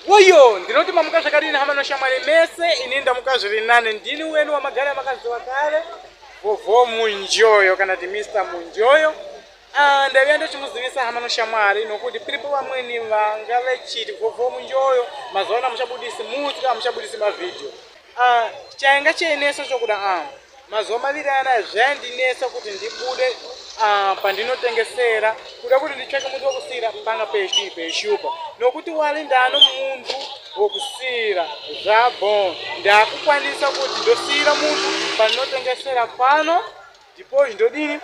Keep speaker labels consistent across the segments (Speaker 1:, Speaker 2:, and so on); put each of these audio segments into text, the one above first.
Speaker 1: Woyo, ndinoti mamuka zvakadini hama noshamwari mese, ini ndamuka zviri nane, ndini weni wamagara makaziwa kare, Vovho Munjoyo kana kuti Mr Munjoyo. Ah, ndaviya ndochimuzivisa hama noshamwari nokuti piripo vamweni vanga vechiti Vovho Munjoyo mazuva ano hamuchabudisi mutsa, hamuchabudisi mavhidhiyo. Ah, chainga cheineso chokuda ah. Mazuva maviri anaya zvaindinetsa kuti ndibude ah, pandinotengesera kuda kuti nditsvake munhu wekusiira panga pechii peshupa nokuti wali ndano munhu wekusiira zvabon ndakukwanisa kuti ndosiira munhu pandinotengesera pano ndipo ndodini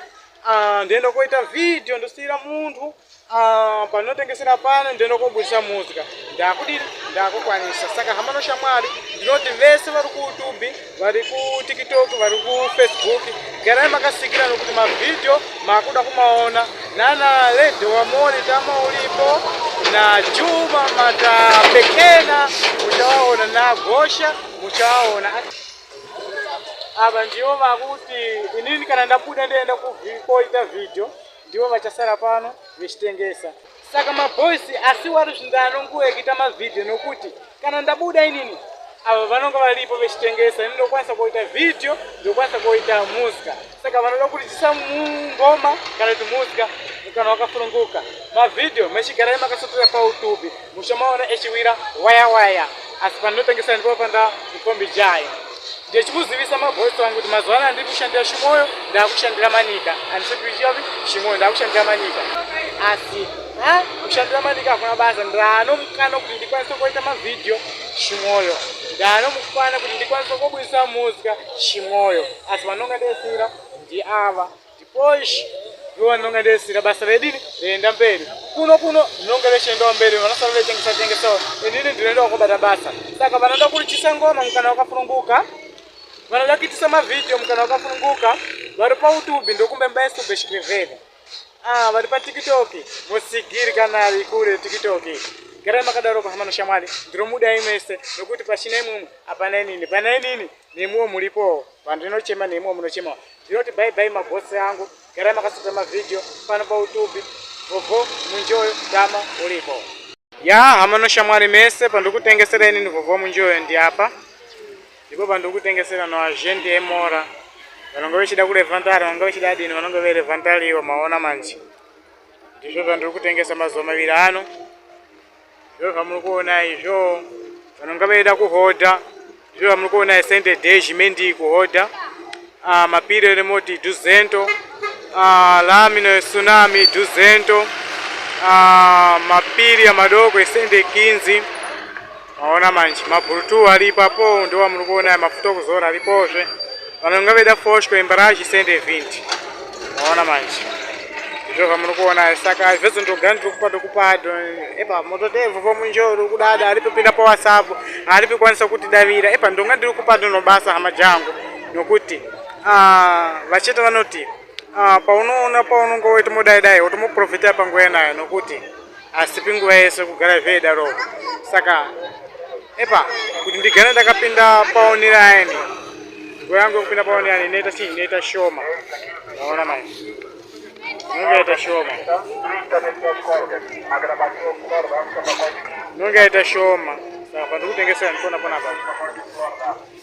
Speaker 1: ah, ndoenda koita vhidhiyo ndosiira munhu Ah, panotengesera pano ndinokobudisa muzika ndakudini ndakukwanisa saka hama noshamwari ndinoti vese vari kuutubi vari kutiktok vari kufacebook garai makasikira nokuti mavhidhiyo makuda kumaona nana lady wamori tama uripo najuma matapekena muchawaona nagosha muchawaona ava ndivo vakuti inini kana ndabuda ndienda kukoita vhidhiyo ndivo vachasara pano vechitengesa saka maboys asi wari zvinda anongoekita mavhidhiyo nokuti kana ndabuda inini ava vanonga varipo vechitengesa ini ndokwanisa kuita vhidhiyo ndokwanisa kuita musika saka vanoda kurichisa ngoma kana kuti musika kana wakafununguka mavhidhiyo mechigarai makasotora pautubi musha maona echiwira waya waya asi pandinotangisa ndipo panda mukombi jaya ndechikuzivisa mabhosi vangu kuti mazuva anaya ndiri kushandira shimoyo ndaakushandira manika andisikuichiapi shimoyo ndaakushandira manika asi ha kushandira manika hakuna basa ndaano mukana kuti ndikwanise kuita mavhidhiyo shimoyo ndaano mukana kuti ndikwanise kubudisa muzika shimoyo asi vanonga desira ndiava Dipoish ivo ndinonge ndisina basa redini reenda mberi kuno kuno ndinonge rechiendawo mberi vanosara vechengesa chengesawo inini ndinoendawo kobata basa saka vanoda kurichisa ngoma mukana wakafununguka vanoda kuitisa mavhidhiyo mukana wakafununguka vari pautubi ndokumbe mbaisubeshikirevheni ah, vari patiktok musigiri kana ari kure tiktok garai makadaro kuhama noshamwari ndinomudai mese nokuti pachina imwimwe hapana inini pana inini nemiwo muripowo vandinochema nemiwo munochemawo Ndinoti bye bye mabosi angu, garai makasota mavideo pano pautubi gogo munjoyo dama ulipo. Ya hama noshamwari mese pandikutengesera inini gogo munjoyo ndiapa ndipo pandikutengesera no agent emora vanonge vechida kurevantari vanonge vechida adini vanonge verevantariwo maona manje ndizvo zvandiri kutengesa mazuva maviri ano Zviro zvamuri kuona izvo vanonga vaida kuhodha zviro zvamuri kuona isende deshi mendi kuhodha ah, mapiro remoti duzento ah, lamino yesunami duzento ah, mapiri amadoko isende kinzi maona manje mabhurutu ari ipapo ndo vamuri kuona mafuta okuzora aripozve Vanhu vanga veda foshwe imba rachi send a vint. Maona manje. Izvo vamuri kuona saka hazvese ndogani tokupa tokupa epa moto devo vomunjoro kudada aripi pinda pa WhatsApp aripi kwanisa kuti davira epa ndonga ndiri kupa ndono basa hama jangu nokuti ah vachete vanoti Ah, paunoona paunonge woti modai dai woti moprofita panguva yenayo nokuti asipi nguva yese kugara zveidaro saka epa kuti ndigare ndakapinda paoniraini nguva yangu yekupinda paoniraini inoita chii inoita shoma aona mai inonge yaita shoma inonge yaita shoma saka pandiri kutengesera ndipona ponapa